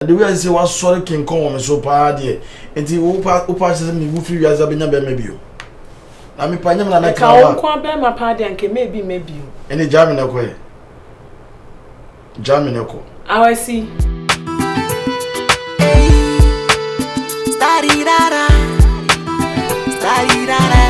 Ade wei a ɛsɛ sɛ wasɔre kenkɔn wɔ me so paa deɛ nti wopa wopa sɛ me wu firi wiase abɛnya bɛrima bio na mepa nyɛ me na mɛtena hɔ a nko a bɛrima paa deɛ anka mɛ bi mɛ bio ɛne gya me na ɛkɔ ɛ gya me na ɛkɔ awasi Tarirara, tarirara.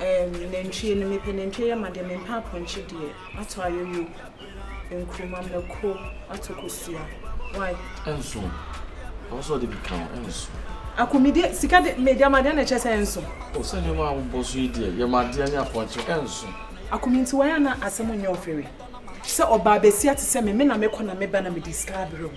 Nantwie no mepɛ nantwie yɛ ma deɛ mempɛ apɔnkye deɛ ato ayoyo nkruma mako ato kosua why. Ɛnso ɔwɔ sɛ ɔde bi ka ho ɛnso. Ako me deɛ sika de me deɛ ama deɛ na ɛkyɛ sɛ ɛnso. O sɛ nneɛma a wobɔ so yi deɛ yɛ ma adeɛ ne apɔnkye ɛnso. Ako me nti why a na asɛm nyɛ ɔfɛre sɛ ɔbaa bɛsia te sɛ me me na mekɔ na meba na mede sika abrɛ wo.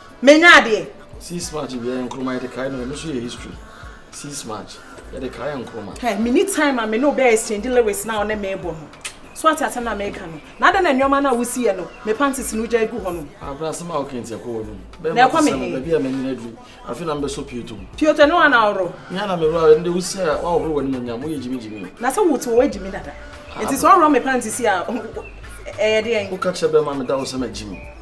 Menya adeɛ. Six match bi yɛ nkroma yɛde kae no ɛno so yɛ history. Six match yɛde kae nkroma. Ɛ mini time a me ne obɛ exchange lyrics na ɔne me bɔ no. So ate asɛm na meka no. Na adɛn na nneɛma na wosi yɛ no me panties no gya gu hɔ no. Abra asɛm a woka nti ɛkɔ hɔ no. Bɛma te sɛ no baabi a manyina duru. Afei na mbɛsɔ pioto mu. Pioto ne wana ɔro. Me ana me wura ɛnde wosi a wahohoro w'anim onyam woyɛ gyimi gyimi. Na sɛ wote wɔ gyimi dada. Nti sɛ ɔro me panties a ɛyɛ deɛn. Woka kyerɛ bɛma meda wo sɛ magyimi.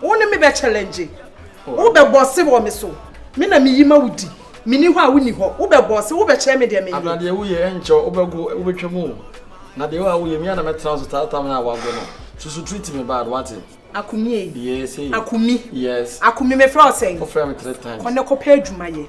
Wo ne me bɛ challenge. Wo bɛ bɔ se wɔ me so. Me na me yi ma wo di. Me ni hɔ a wo ni hɔ. Wo bɛ bɔ se wo bɛ kyerɛ me deɛ me yɛ. Abena deɛ wo yɛ ɛnkyɛ wo bɛ go wo bɛ twɛ mu. Na deɛ wo a wo yɛ mi a na mɛ tena so taa tam na wa go no. Susu treat me bad wate. Akumi ee. Yes ee. Akumi. Yes. Akumi me frɛ wo sɛn. Wo frɛ me three times. Kɔ ne kɔ pɛ adwuma yɛ.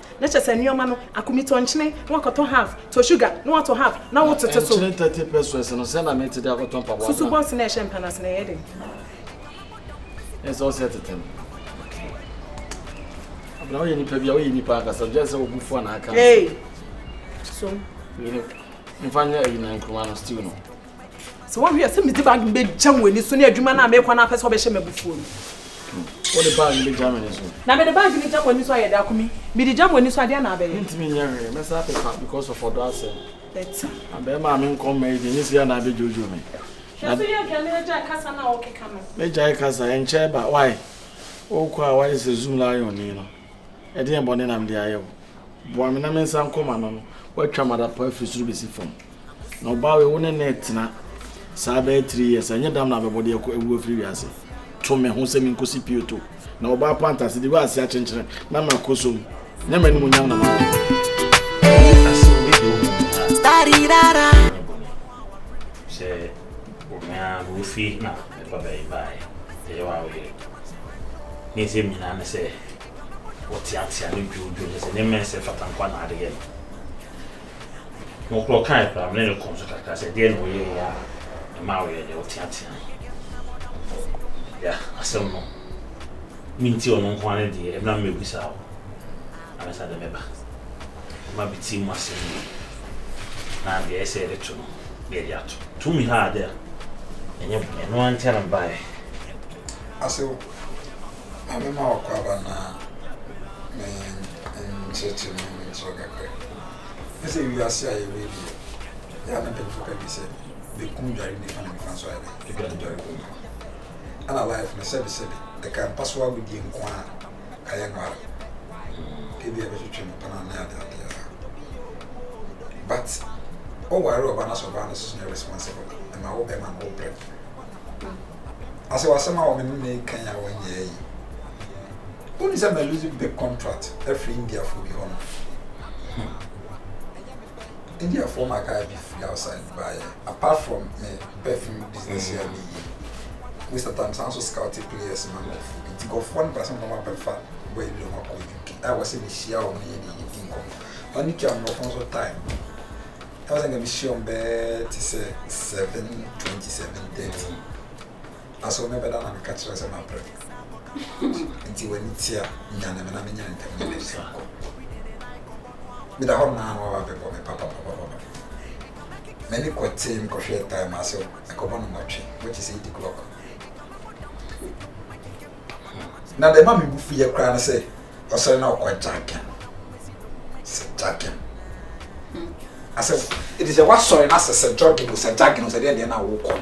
Na kyerɛ sɛ nneɛma no, ako mi tɔ nkyene na woakɔtɔ half, tɔ sugar na woatɔ half na wotete so. Na nkyene thirty pesewas no, sɛn na mete de akɔtɔ mpaboa na. Susu bɔs no a ɛhyɛ mpa no ase na ɛyɛ den. Ɛyɛ sɛ ɔsɛ tete no. Okay. Abena woyɛ nipa bi a woyɛ nipa ankasa gyɛ sɛ wobu fo na aka. Hey. So. Yini. Mfa nyɛ ayi na nkruma no stew no. Sɛ woahwɛ a, sɛ mede bag no bɛgya mo ani so ne adwuma no a merekɔ no apɛ sɛ ɔbɛhyɛ m'abufuo no. Wode bag no bɛgya m'ani so. Na mede bag no gya mo ani so ayɛ dɛ akumi. Mede gya mo ani so adeɛ na abɛyɛ. Mentumi nyɛ hwee, mɛsan apepa because of ɔdɔ asɛm. Better. Na bɛrima a menkɔ mma yi deɛ, ɛnyɛ sika na abɛdwoodwoo me. Hwɛ so yɛ dwane na gyae kasa no a wokeka no. Mɛgyae kasa, ɛnkyɛe ba, why? Wokɔ a woayɛ sɛ Zoom lion ni no. Ɛdeɛn bɔne na mede ayɛ wo? Boa me na mensa nkɔ m'ano no. Woatwa m'adapaa firi soro bɛsi fam. Na ɔbaa wei, wo ne no retena saa bɛyɛ three years a, ɛnyɛ dam na abɛbɔ de akɔ awu afiri wiase? To me ho sɛ menkɔsi Pioto. Na ɔbaa panta ase de wei ase akyenkyene na makɔ so mu. Nyɛ m'animuonyam na mama wo. Sɛ wo hwɛ a, wofie na Babaa yi baeɛ, ɛyɛ wo a wo yere. Ne nsɛm nyinaa ne sɛ ɔteatea no dwoodwoo ne sɛ nneɛma a ɛnsɛ mfata nko ara na ade yɛ no. Mokorɔ kaeɛ koraa, me ne no kɔɔ so kakra sɛ ɛdeɛn na woyɛeɛ a ɛmaa woyɛɛ dɛ woteatea no. Ya, asɛm no, mentie ɔno nko ara ne deɛ, ɛmmra mɛbisa wo ansa deɛ mɛba. ma bi tsim ase no yie, na bea a ɛsɛ yɛde to no na yɛde ato. Tumi ha ade a, ɛnyɛ hom. Ɛno ara nti na mebaeɛ. Asew, Maame ma w'akwaaba na me nkyerɛkyerɛ mu na menkyerɛ wo kakra bi. Wohu sɛ wiase a yɛwɔ yi deɛ, yɛ a na mpanyimfo ka bi sɛ benkum dware nifa na nifa nso ayɛ dɛn? Edwane dware kɔ mu. Ɛna life no, sɛbesɛbe, ɛka mpa so agodie nko ara. ayɛ no ara ebi a ɛbɛtwetwe no pɛn anaa ade ade ara but ɔware ɔba na sɛ ɔbaa no soso nyɛ responsible ɛma wo bɛma no wo brɛ na sɛ wasɛm a wɔne ne kan a wɔnyɛ yi woni sɛ ma lose big contract afiri indiafoɔ bi hɔ no India foɔ ma guy bi firi outside baeɛ apart from me perfume business yɛ a mm. meyɛ most of time saa nso scouting players ma nkurɔfoɔ nti nkurɔfoɔ no ba sɛ wɔn abɛfa boy bi wɔn akɔ UK a wɔ sɛ mehyia wɔn na yɛde yɛdi nkɔmɔ wɔn ne tua mmorɔfo nso time ɛwɔ sɛ nka mehyia wɔn bɛɛ te sɛ seven twenty seven thirty. Na so me bɛda na me ka kyerɛ wo sɛ mabrɛ? Nti w'ani te a, nyane me na me nyane ntɛm na me nso nkɔ. Me da hɔ no na waba abɛbɔ me papapapapa. M'ani kɔ tee me kɔ hwɛɛ time a so ɛkɔbɔ no nwɔtwe, which is eight o'clock. Na deɛ ɛma me bo fu yɛ koraa ne sɛ ɔsɔre na ɔkɔ jacking. Sɛ jacking. Asɛ, ɛti sɛ wasɔre na sɛ sɛ jogging o sɛ jacking o sɛ deɛ deɛ na wokɔ.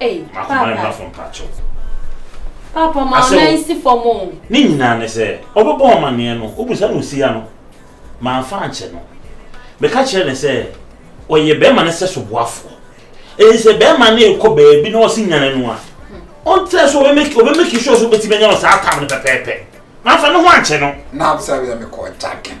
Ei paapa. Paapa ma wo nan si fam o. Ne nyinaa ne sɛ, ɔbɛbɔ wo amanneɛ no, wobisa no osi ano. Mamfa ankyɛ no. Meka kyerɛ no sɛ, ɔyɛ barima no sɛsoboafoɔ. Enti sɛ barima no rekɔ baabi na ɔse nyane no a, ɔntrɛ so, ɔbɛmeki sure sɛ wobɛtumi anya no saa tam no pɛpɛɛpɛ. Mamfa ne ho ankyɛ no. Na abisa wia mekɔɔ Jakin.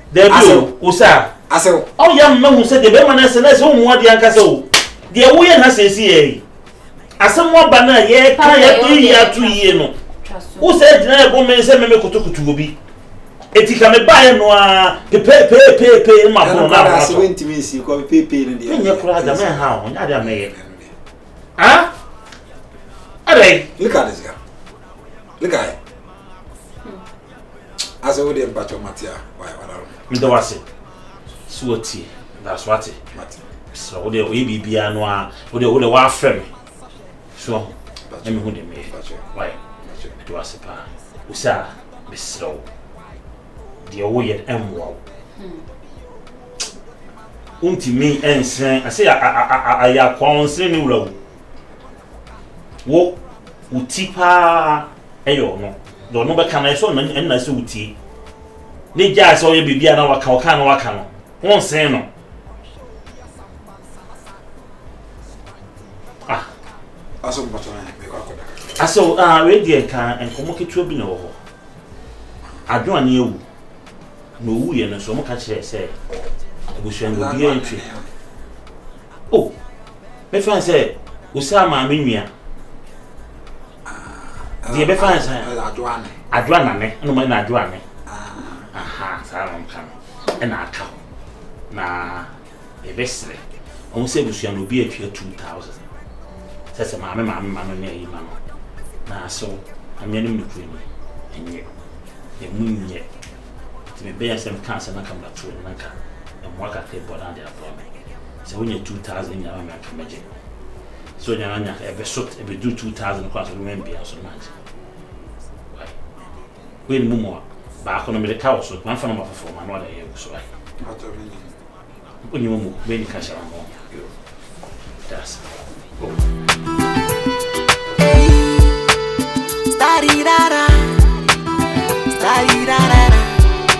Dabi o, wo sa a. Asew. Ɔw yam mahu sɛ deɛ bɛrima no asɛ no ayɛ sɛ wo mmoa deɛ ankasa o. Deɛ wo yɛ ha seeseiɛ yi, asɛm aba no a yɛreka a yɛatɔ yie ato yie no, wo saa gyina yɛ bɔ mmɛn sɛ me me kotokoto obi. Eti ka me baeɛ no ara pepeepeepeepee no ma pono no ahoa tɔ. Menyɛ koraa da mɛn ha o, nyɛ adeɛ a mɛyɛ. Ah? Adɛn? Look at this girl. Look at her. Ase wo deɛ mpakyɛ mate a why wada no. Meda wo ase sɛ watie da so ate. Mate. Sɛ wo deɛ oyɛ biribiara no a wo deɛ wo deɛ wafrɛ me so ahu na me hu deɛ meyɛ why meda wo ase paa osa mesrɛ wo deɛ woyɛ no ɛmmoa wo wontumi ɛnsrɛn ase ayɛ akoa wo nsrɛn ne wura wo wo wo ti paa ɛyɛ ɔno Deɛ ɔno bɛka no, ɛsɛ ɔno ɛna sɛ wotie. Ne gyaa sɛ ɔyɛ biribi a na waka ɔka na waka no, honsen no. Ah. Asɔ mpɔtɔ na mekɔ akɔda kakra. Asɔ, ah, wei deɛ nka nkɔmmɔ ketewa bi na ɛwɔ hɔ. Adwo ane awu. Na owu yɛ no nso, ɔmo ka kyerɛ sɛ abusua no obiara ntwi. Oh, mefa sɛ osaa maame nua. deɛ ɛbɛfa ne sɛ adwoa nane ɛna ɔma ɛna adwoa ne aha saa na ɔka no ɛna aka hɔ na yɛbɛsrɛ ɔmo sɛ abusua no obi atua 2000 sɛ sɛ maame maame ma no ne ayi ma no na asew amea no mu ne kuro mu ɛnyɛ ɛmu nyɛ nti mebɛyɛ sɛ meka asɛm aka mbatoo no nanka ɛmmoa kakra bɔ no ade aboa me sɛ wonya 2000 nyinaa ma me anka mɛgye so nyana nya ebe so ebe du 2000 kwa so no wen bia so match why we ni mumu ba ko no me de ka wo so ma fa no ma foforo ma no da ye so why onyi mumu we ni ka sha mo yo that's Tarirara, tarirara.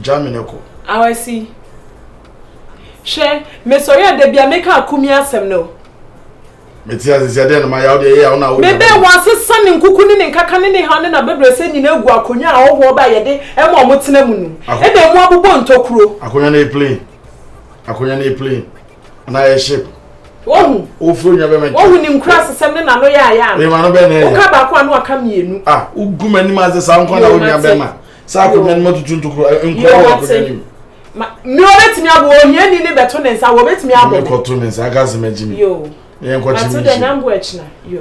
gya me ne kɔ. Awasi, hwɛ, mesɔre a da bia meka akumi asɛm no. Mete ase sɛ dɛn no ma yaw deɛ ɛyɛ a wona wo. Mebɛ wɔasesa ne nkuku ne ne nkaka ne ne haw ne n'abɛbrɛsɛ nyina agu akonnwa a ɔhoɔ ba a yɛde ɛma ɔmo tena mu no. Ɛna ɛmu abobɔ ntokuro. Akonnwa no yɛ plain. Akonnwa no yɛ plain. na yɛ ship. wohu wofuro nwa bɛma nkyɛn wohu ne nkura sesɛm ne nano yɛ ayɛ ano ɛma no bɛn na ɛyɛ woka baako a na waka mmienu a wogu m'anim ase saa nkwa na wonwa bɛma saa akonnwa no matutu ntokuro nkura wɔ akonnwa no mu mi wɔbɛtumi abɔ ohia ni ne bɛto ne nsa wɔbɛtumi abɔ mi kɔto ne nsa aka asɛm agyi mi yɛ nkɔkye mi nhyɛ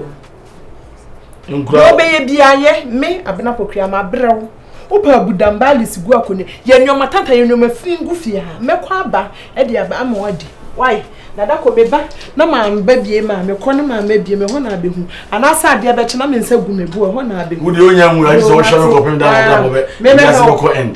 nkura deɛ ɔbɛyɛ bi ayɛ me abena pokua ma abrɛ wo wopɛ abudam baalis gu akonnwa yɛ nneɛma tanta yɛ nneɛma fi ngu fie ha mɛkɔ aba ɛde aba ama wadi wae dada kɔ meba na maa mba bie maa mekɔ ne maa mɛ bie mɛ hɔ na abɛhu anaasɛ adeɛ bɛkye na me nsa gu me bo ɛhɔ na abɛhu wodeɛ onya nwura gye sɛ wohyɛ no kɔpem da na abena bɔbɛ mɛ mɛ hɔ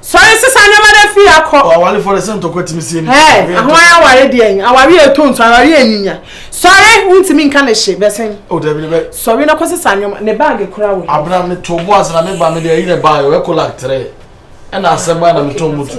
Sɔre sesa nneɛma na fi ha kɔ. Ɔawalefo de sɛ ntɔkwa tumi sie ne. Hɛɛ, ɛho ayɛ aware deɛ yi. Aware yɛ to nso, aware yɛ nyinya. Sɔre, wontumi nka ne hye, bɛsen. O dabi ne bɛ. Sɔre na kɔ sesa nneɛma, ne baage kora wɔ. Abena me to bo ase na me ba me de ayi ne baage, ɔyɛ kolak tere. Ɛna asɛm baa na me tɔn mutu.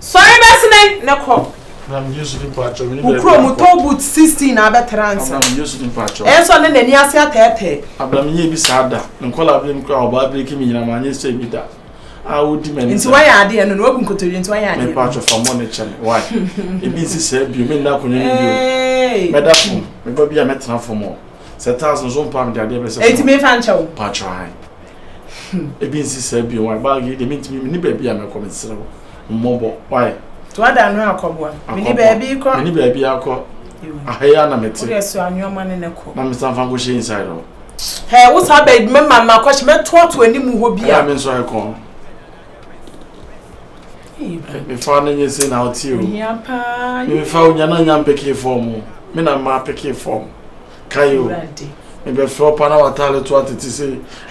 Sɔre bɛsene ne kɔ wo kuro mu tɔ boot sixteen na abɛtena nsa. Ɛsɔ ne n'ani ase atɛɛtɛɛ. Abram nyɛ bi saa da. Nkɔla abirem kura ɔbaa abirem kimi nyina ma nyɛ sɛ bi da. A wodi mɛ ne sɛ. Nti wayɛ adeɛ no na wabu nkotodwe nti wayɛ adeɛ. Mepa atwɔ fa mɔ ne kyɛm. Why? Ebi nsi sɛ bio me nna akonnwa no bio. Mɛda fam. Meba bi a mɛtena fam o. Sɛ tiles no so mpa me de adeɛ bɛsɛ so. Eti mefa nkyɛw. Pa atwɔ ae. Hmm, ebi nsi saa bi wɔn bag yi de mi ntumi mi ni baabi a mɛkɔ mesrɛ wo mmɔbɔ wae. to ada no akɔboa mi ni baabi kɔ mi ni baabi akɔ aha yi ana mete. wode so anwoma ne ne kɔ. na mesan fa nkɔhyɛ inside hɔ. hɛ wo saa baabi mɛma ma akɔhyɛ mɛtoato anim hɔ bi a. ɛyà mi nso ayɛ kɔn. mefa ne nye se na ɔte o mefa onya na nya mpeke fɔm o me na mma peke fɔm kae o mebɛfrɛ ɔpa na wataale to atete se